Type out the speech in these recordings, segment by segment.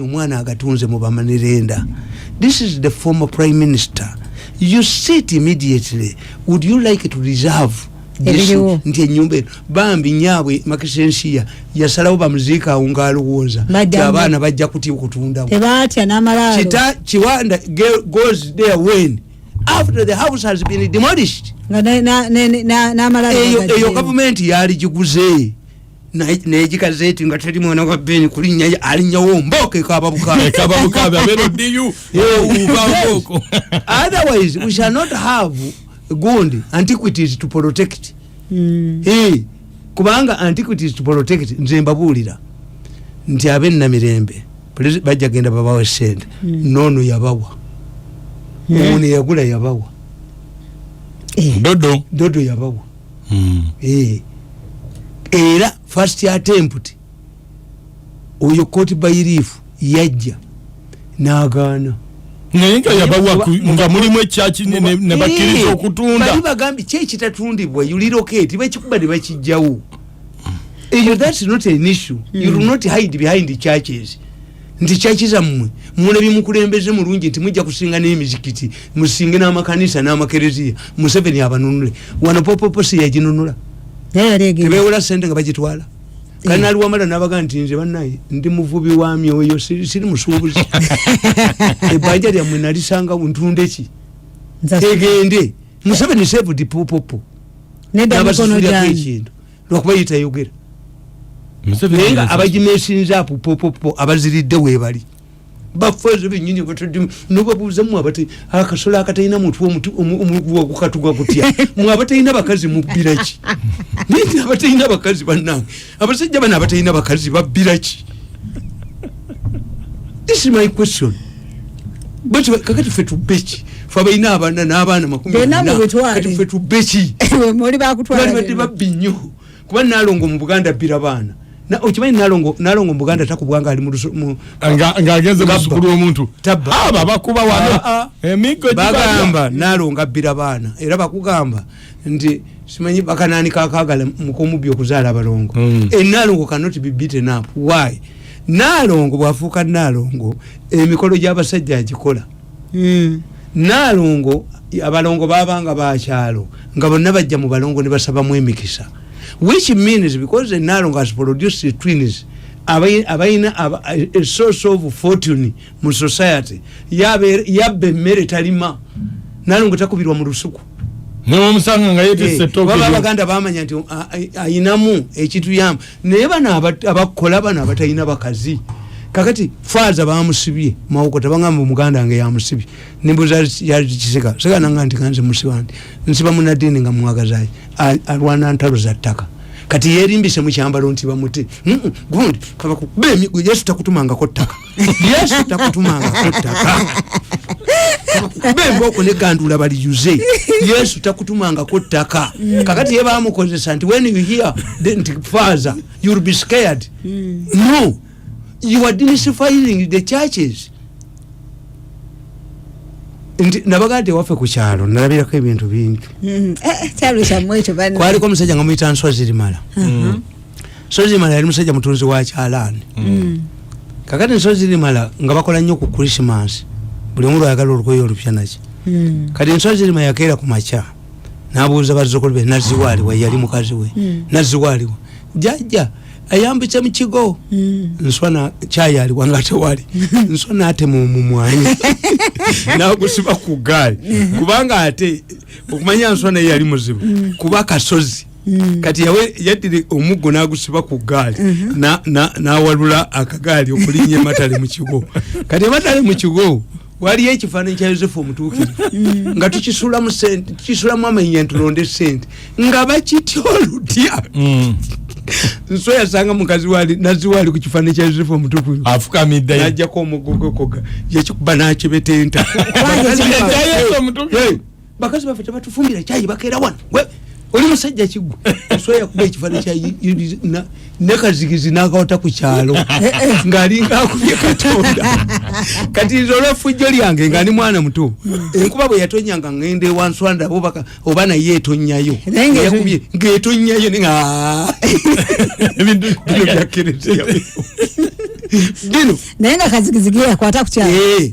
omwana agatunze mu bamanirenda this is the former prime minister you sit immediately would you like to reserve nti enyumba eno bambi nyabwe makisensiya yasalawo bamuziika awo ngaalowooza ti abaana bajja kutya okutundawo kiwanda goes there when after the house has been demolished eyo gavumenti yaligiguze negikaze eti nga teri mwana wa beni kulinya alinyawo mboka ekaba bukabeotherwise we shall not have gundi antiquities to protect mm. hey, kubanga antiquities to protect nze mbabuulira nti abe namirembe bajja genda babawe sente hmm. nono yabawa hmm. ono yagula yabawa eh. dodo dodo yabawa hmm. eh. era first attempt oyo koti bayirifu yajja nagaana naye nga yabawa nga mulimu ekyaki nebakiriza eh. okutunda bali bagambye kyekitatundibwa yuliroketi bakikuba nebakijjawo eyo thats not an issue mm. you do hmm. not hide behind the churches nti kyaki zammwe muna bimukulembeze mulungi nti mujja kusinga n'emizikiti musinge n'amakanisa n'amakereziya museveni abanunule wano popopo siyaginunula tebewola sente nga bagitwala kati nali wamala nabaga nti nze banaye ndi muvubi wa myoyo siri musuubuzi ebbanja lyammwe nalisanga ntundeki egende museveni saved popopo nabasusulirako ekintu lwakuba ye tayogera naye nga abagimesinza apo popopo abaziridde webali bafaze benyini batadde nobabuuza mwe abate akasolo akatalina mutwe omuguwa gukatuga kutya mwe abatalina bakazi mubbiraki naye abatalina bakazi bannange abasajja bano abatalina bakazi babbiraki this is my question kakati fe tubbeki fe abalina abaana n'abaana makumikati fe tubbeki balibadde babbi nnyo kuba nalongo mu buganda abbira baana okimanyi nalongo nalongo mubuganda takubwa nga ali ngaageze musukulu womuntu aba bakuba wano ah, ah. emigo bagamba nalongo abbira baana era bakugamba nti simanyi bakanani kakagala mukumubbi okuzaala abalongo mm. enalongo cannot be beaten up why nalongo bwafuuka nalongo emikolo gyabasajja agikola mm. nalongo abalongo babanga bakyalo nga bonna bajja mu balongo nebasabamu emikisa which means because nalongo has produced twins abalina a source of fortune mu society yabba emmere talima nalongo takubirwa mu lusuku newamusanga nga yetese eh, toba abaganda bamanya nti ayinamu ekituyamba naye bano abakola bano abatalina bakazi kakati faaza bamusibye mawoko tabangamba omuganda nga yamusibye nembuza yakisika sikananga nti kanze musiba nti nsiba munadini nga mwagazaye alwana ntalo za ttaka kati yerimbise mukyambalo nti bamuti gundi kabakuba emigwe yesu takutumangako ttaka yesu takutumanga kuttaka bemba okulegandula baliyuze yesu takutumangako ttaka mm. kakati ye bamukozesa nti when you hear nti father youll be scared mm. no you are disfiling the churches nti nabagade wafe ku kyalo nalabirako ebintu bingi mm. eh, eh, kwaliko omusajja nga muyita nswa zirimala uh-huh. sozimala yali musajja mutunzi wa kyalaani mm. mm. kakati nsozi limala nga bakola nnyo ku krisimansi buli omu lwayagala olugoye olupya naki mm. kati nsozi lima yakeera ku makya nabuuza bazukulu be naziwaaliwa yali mukazi we naziwaaliwa jajja ayambitse mu kigo nswana kyayaliwa nga tewali nswana atema omumwanyi nagusiba ku gaali kubanga ate okumanya nswana yeyali muzibu kuba kasozi Mm. kati yawe yadire omuggo nagusiba ku gaali mm -hmm. na na nawalula akagaali okulinya matale mu kigo kati matale mu kigo wali ekifana kya Yosefu omutuukiri mm. nga tukisula mu sente tukisula mu amenya tulonde sente nga bakityo lutya mm. nso yasanga mukazi wali nazi wali ku kifana kya Yosefu omutuukiri afuka midda najja ko omugogo koga yakikuba nakibetenta kwa Yosefu omutuukiri bakazi baffe tebatufumbira kyayi bakeera wano oli musajja kigwa osobola yakuba ekifaani kya nekazigizi nakawata ku kyalo eh, eh. ngaalinga akubye katonda kati nze olwefujjo lyange nga ni mwana muto hmm. enkuba bwe yatonya nga ngenda ewanswanda bobaka oba naye etonyayo yakubye ngaetonyayo ni ah. ebintu bino byakereteya bino naye nga kazigizigi yakwata ku kyalo eh.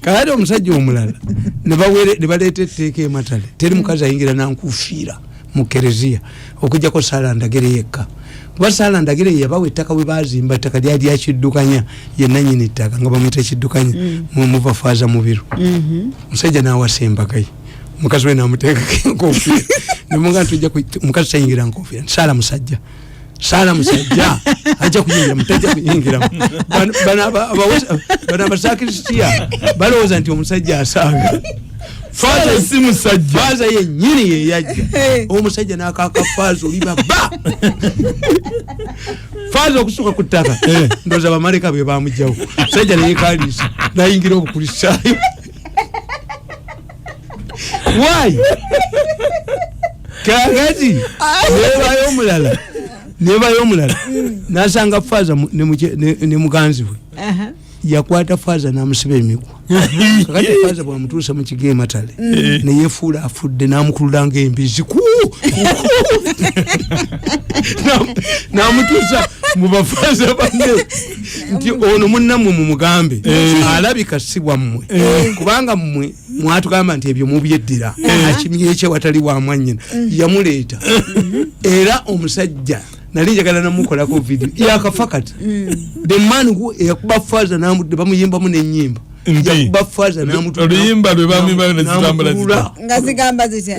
kale omusajja omulala nebaleeta etteeka ematale teri mukazi ayingira nankufiira mu kereziya okujjako saala ndagire yekka kuba saala ndagire yeyabawa ettaka we bazimba ettaka lyali yakiddukanya yenanyini ettaka nga bamuyita ekiddukanya mm. muva faaza mubiru mm-hmm. musajja nawasa embagaye mukazi we namuteekako enkofiira nemuga nti ojja mukazi tayingira nkofiira nti saala musajja sala musajja aja kuyingira mutaja kuyingira bana bana basakirisitia balowoza nti omusajja asanga faza si musajja faza yenyini yeyajja omusajja nakaka faza oli baba faza okusuka ku ttaka eh. ndoza bamaleka be bamujjawo musajja neyekaliisa nayingira obukulisaayo why kakati nebayo omulala nebayo omulala nasanga faza ne muganzi we yakwata faza namusiba emigwa kakati faza bwamutuusa mu kigo ematale mm. neyefuula afudde namukululanga embizi ku namutuusa mu bafaza banne nti ono munnamwe mumugambe eh. alabika si bwammwe eh. kubanga mmwe mwatugamba nti ebyo mubyeddira eh. akimyekye watali wa mwanyina mm. yamuleeta mm-hmm. era omusajja nali njagala namukolako vidio yakafa kati mm. the man who eyakuba faza namudde bamuyimbamu nenyimba yakuba faza namutuluyimba lwe bamimba nezitambula nga zigamba zitya